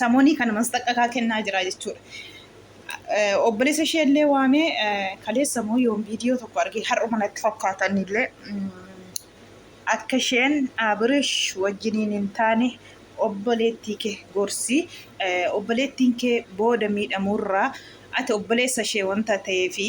Samonii kana masxaqqakaa kennaa jira jechuudha. Obboleessa ishee illee waamee kaleessa moo yoom viidiyoo tokko argee har'uma natti fakkaatan illee akka isheen Abirish wajjiniin hin taane obboleettii kee gorsi obboleettiin kee booda miidhamuurraa ati obboleessa ishee wanta ta'eefi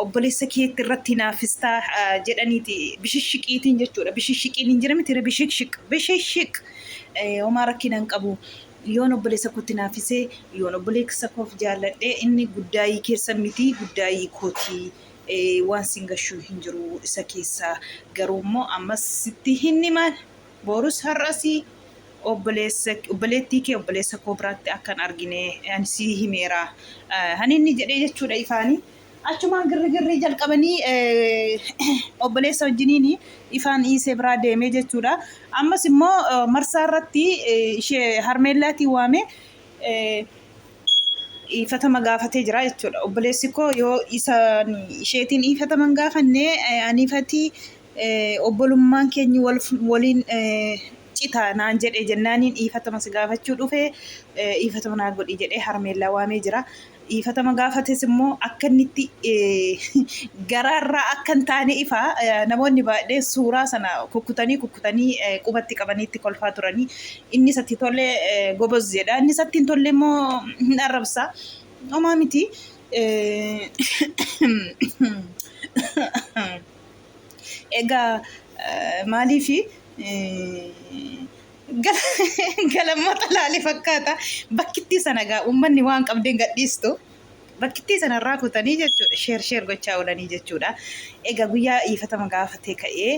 obboleessa keetti irratti hinaaffistaa jedhaniiti bishishshiqiitiin jechuudha. Bishishshiqiin hin jira miti bishishshiq bishishshiq homaa rakkina hin qabu. Yoon obboleessa kootti hinaaffisee yoon obboleessa koof jaalladhe inni guddaayii keessan miti guddaayii kooti waan sin gashuu hin jiru isa keessaa garuu immoo ammas sitti hin himaan Borus har'as obboleessa, obboleettii kee obboleessa koo biraatti akka hin argine ani sii himeera. Kan inni jedhee jechuudha ifaani. Achumaan girrigirrii jalqabanii obboleessa wajjiniin ifaan dhiisee biraa deemee jechuudha. Ammas immoo marsaa irratti ishee harmeellaatii waamee dhiifatama gaafatee jira jechuudha. Obboleessi koo yoo isa isheetiin dhiifataman gaafanne aniifatii obbolummaan keenyi waliin cita naan jedhe jennaaniin dhiifatama si gaafachuu dhufe dhiifatama naa godhi jedhee harmeellaa waamee jira. Dhiifatama gaafates immoo akka inni itti garaarraa akka hin taane ifa namoonni baay'een suuraa sana kukkutanii kukkutanii qubatti qabanii itti kolfaa turanii inni isatti tole goboz jedha inni isatti hin tolle immoo hin arrabsa homaa miti. Egaa maaliif galammoota laale fakkaata bakkittii sana egaa uummanni waan qabdeen gadhiistu bakkittii sana irraa kutanii jechuudha sheer sheer gochaa oolanii jechuudha. Egaa guyyaa iifatama gaafatee ka'ee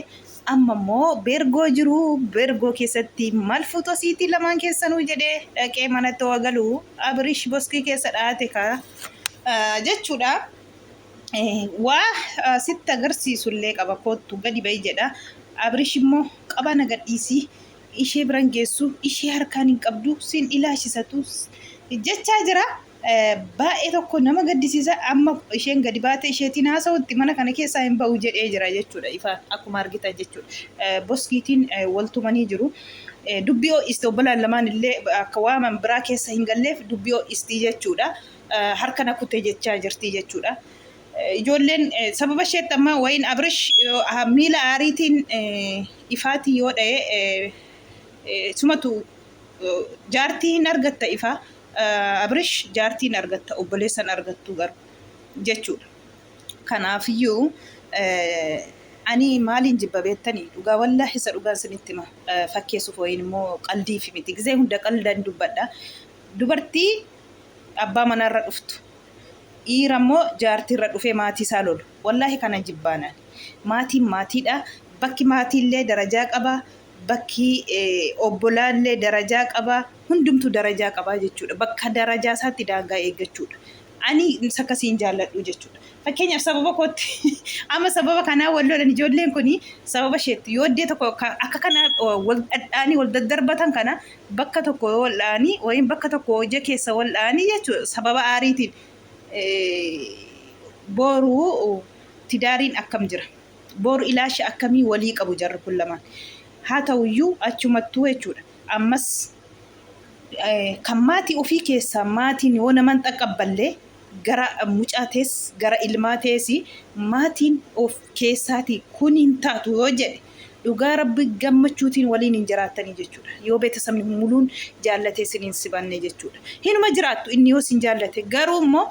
amma immoo beergoo jiru beergoo keessatti maal fuutu asiitii lamaan keessanuu jedhee dhaqee manatti waa galuu abirish boskii keessa dhaate kaa jechuudha. waa sitti agarsiisu illee qaba koottu gadi ba'i jedha abrish immoo qabaa na gadhiisii ishee biran geessu ishee harkaan hin qabdu siin ilaashisatu jechaa jira baay'ee tokko nama gaddisiisa amma isheen gadi baatee isheetiin haasa'utti mana kana keessaa hin ba'u jedhee jira jechuudha ifa akkuma argitan jechuudha boskiitiin waltumanii jiru dubbii ho'iste obbolaan lamaan illee akka waaman biraa keessa hin galleef dubbii ho'istii jechuudha harka na kute jechaa jirti jechuudha. Ijoolleen sababa isheetti amma wayiin Abrish miila aariitiin ifaatii yoo dha'e sumatu jaartii hin argatta ifaa Abrish jaartii hin argatta obboleessan argattuu garu jechuudha. Kanaafiyyuu ani maaliin jibba beettanii dhugaa wallaahi isa dhugaan sinitti hima fakkeessuuf wayiin immoo qaldiif miti gizee hunda qaldan dubbadha dubartii abbaa manaa irra dhuftu dhiira immoo jaartii irra dhufee maatii isaa lolu wallaahi kanan jibbaan ani maatiin maatiidha bakki maatii illee darajaa qaba bakki obbolaa illee darajaa qaba hundumtu darajaa qabaa jechuudha bakka darajaa isaatti daangaa eeggachuudha ani sakkasiin jaalladhu jechuudha fakkeenyaaf sababa kootti amma sababa kanaa wal lolan ijoolleen kun sababa isheetti yooddee tokko akka kana wal dhadhaanii wal daddarbatan kana bakka tokko yoo wal dha'anii yookiin bakka tokko hojii keessa wal dha'anii jechuudha sababa aariitiin booru tidaariin akkam jira booru ilaasha akkamii walii qabu jarri kun lamaan haa ta'uyyuu achumattuu jechuudha ammas kan maatii ofii keessaa maatiin yoo naman xaqqabballee gara mucaa tees gara ilmaa tees maatiin of keessaatii kun hin taatu yoo jedhe dhugaa rabbi gammachuutiin waliin hin jiraattanii jechuudha yoo beetasabni muluun jaallatee sin hin sibanne jechuudha hinuma jiraattu inni yoo sin jaallate garuu immoo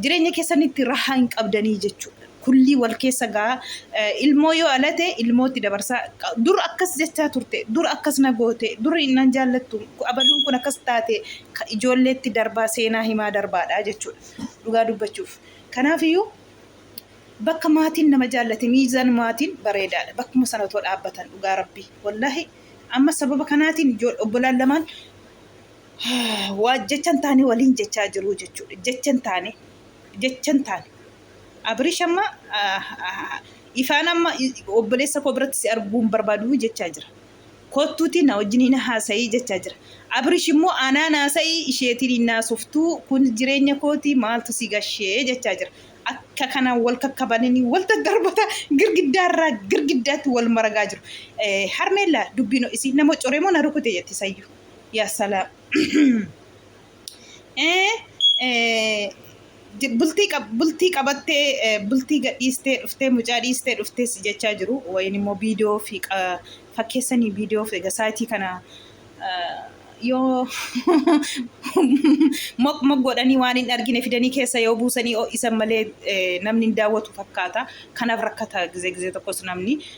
jireenya keessanitti rahaa hin qabdanii jechuudha Kullii wal keessa ga'a. Ilmoo yoo alate ilmootti dabarsa. Dur akkas jechaa turte, dur akkas na goote, dur nan jaallattu, abaluun kun akkas taate ijoolleetti darbaa seenaa himaa darbaadha jechuudha. Dhugaa dubbachuuf. Kanaafiyyuu bakka maatiin nama jaallate miizaan maatiin bareedaadha. Bakkuma sana otoo dhaabbatan dhugaa rabbii. Wallaahi amma sababa kanaatiin obbolaan lamaan waa jechan taane waliin jechaa jiru jechuudha. Jechan taane jechan taane Abirish amma ifaan amma obboleessa koo biratti si arguu hin barbaadu jechaa jira. Kottuuti na wajjin hin haasa'ii jechaa jira. Abirish immoo anaan haasa'ii isheetiin hin haasoftuu kun jireenya kooti maaltu si gashee jechaa jira. Akka kanaan wal kakkabananii wal daddarbata girgiddaa irraa girgiddaatti wal maragaa jiru. Harmeellaa dubbiin isii nama coree moo na rukute jetti sayyuu. Yaa salaam. Eh, eh, j- bultii qab- bultii qabattee eh, bultii gadhiistee dhuftee mucaa dhiistee dhuftee si jechaa jiru wayin immoo viidiyoo fi qa- fakkeessanii viidiyoo fi egaa saayitii kana eh, yoo moq moq godhanii waan hin argine fidanii keessa yoo buusanii ho'isan malee eh, namni hin daawwatu fakkaata kanaaf rakkata gizee gizee tokkos namni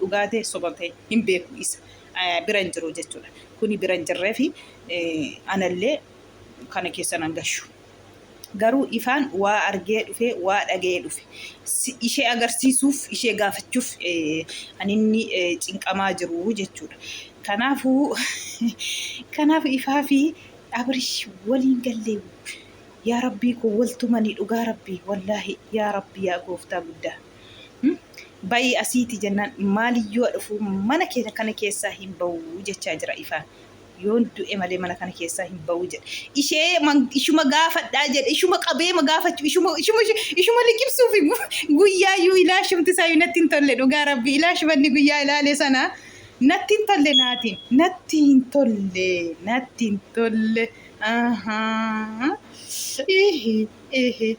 Dhugaa tee soba tee hin beeku isa bira hin jiru jechuudha kuni bira hin jirreefi anallee kana keessa nan gashu garuu ifaan waa argee dhufe waa dhaga'ee dhufe ishee agarsiisuuf ishee gaafachuuf kan inni cinqamaa jiru jechuudha kanaafuu kanaaf ifaa fi abirish waliin gallee yaa rabbii koo waltumanii dhugaa rabbii wallaahi yaa rabbii yaa gooftaa guddaa Bayii asiiti jennaan maaliyyuu dhufuu mana keenya kana keessaa hin ba'uu jechaa jira ifaan. Yoon du'e malee mana kana keessaa hin ba'uu jedhe. Ishee ishuma gaafadhaa jedhe ishuma qabee ma gaafachuu ishuma ishuma ishuma liqimsuuf guyyaa iyyuu ilaashumti isaa iyyuu natti hin tolle dhugaa rabbi ilaashumanni guyyaa ilaale sana natti hin tolle naatiin natti hin tolle natti hin tolle. Ahaa. Ihi ihi.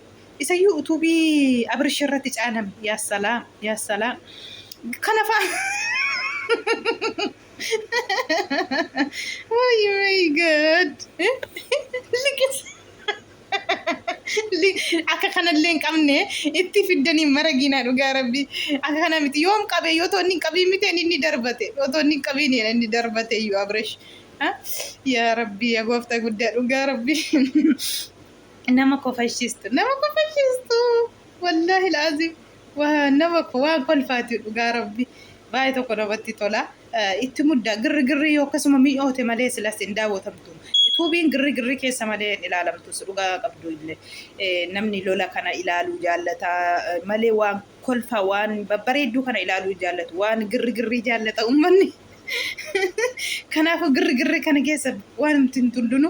Isayyuu utuubii Abirish irratti caalame. Yaa salaam, yaa salaam. Kana fa'a. Oh my God. Liqis. Akka kanallee hin qabne itti fiddanii maragiinaa dhugaa rabbi. Akka kana miti yoom qabe yoo toonni hin qabiin miti inni darbate. Yoo toonni hin qabiin inni darbate iyyuu Abirish. Yaa rabbi yaa gooftaa guddaa dhugaa rabbi. nama kofalchiistu nama kofalchiistu wallaahi laaziim waa nama ko waan kolfaati dhugaa rabbi baay'ee tokko namatti tola itti mudda girri girri yoo akkasuma mi'oote malee silas hin daawwatamtu tuubiin girri girri keessa malee hin ilaalamtus dhugaa qabdu illee namni lola kana ilaaluu jaallata malee waan kolfa waan babbareedduu kana ilaaluu hin jaallatu waan girri girrii jaallata uummanni kanaafuu girri girri kana keessa waan hin tullunu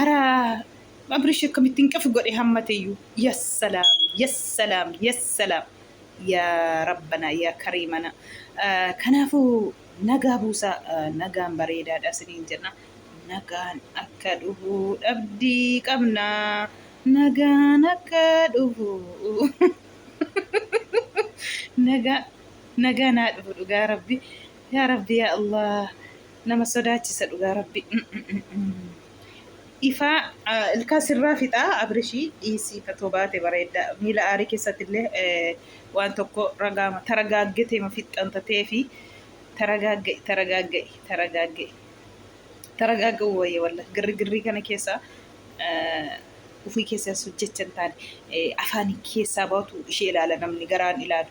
Ara Abrish akkamitti hin qafi godhe hammateyyuu. Yassalaam yassalaam yassalaam yaa rabbana yaa kariimana. Eh, Kanaafuu nagaa buusaa eh, nagaan bareedaadha isiniin jenna. Nagaan akka dhufu dhabdii qabna. Nagaan akka dhufu. Nagaa nagaa naa dhufu dhugaa rabbi. Yaa rabbi yaa Allah. nama sodaachisa dhugaa rabbi ifaa ilkaa sirraa fixaa abrishii dhiisii fatoo baate bareedda miila aarii keessatti illee waan tokko ragaama taragaaggeteema fixxan tatee fi taragaagga'i taragaagga'i taragaagga'i taragaagga'i wayya walla girri girrii kana keessa ufii keessa hojjechan taane afaanii keessaa baatu ishee ilaala namni garaan ilaalu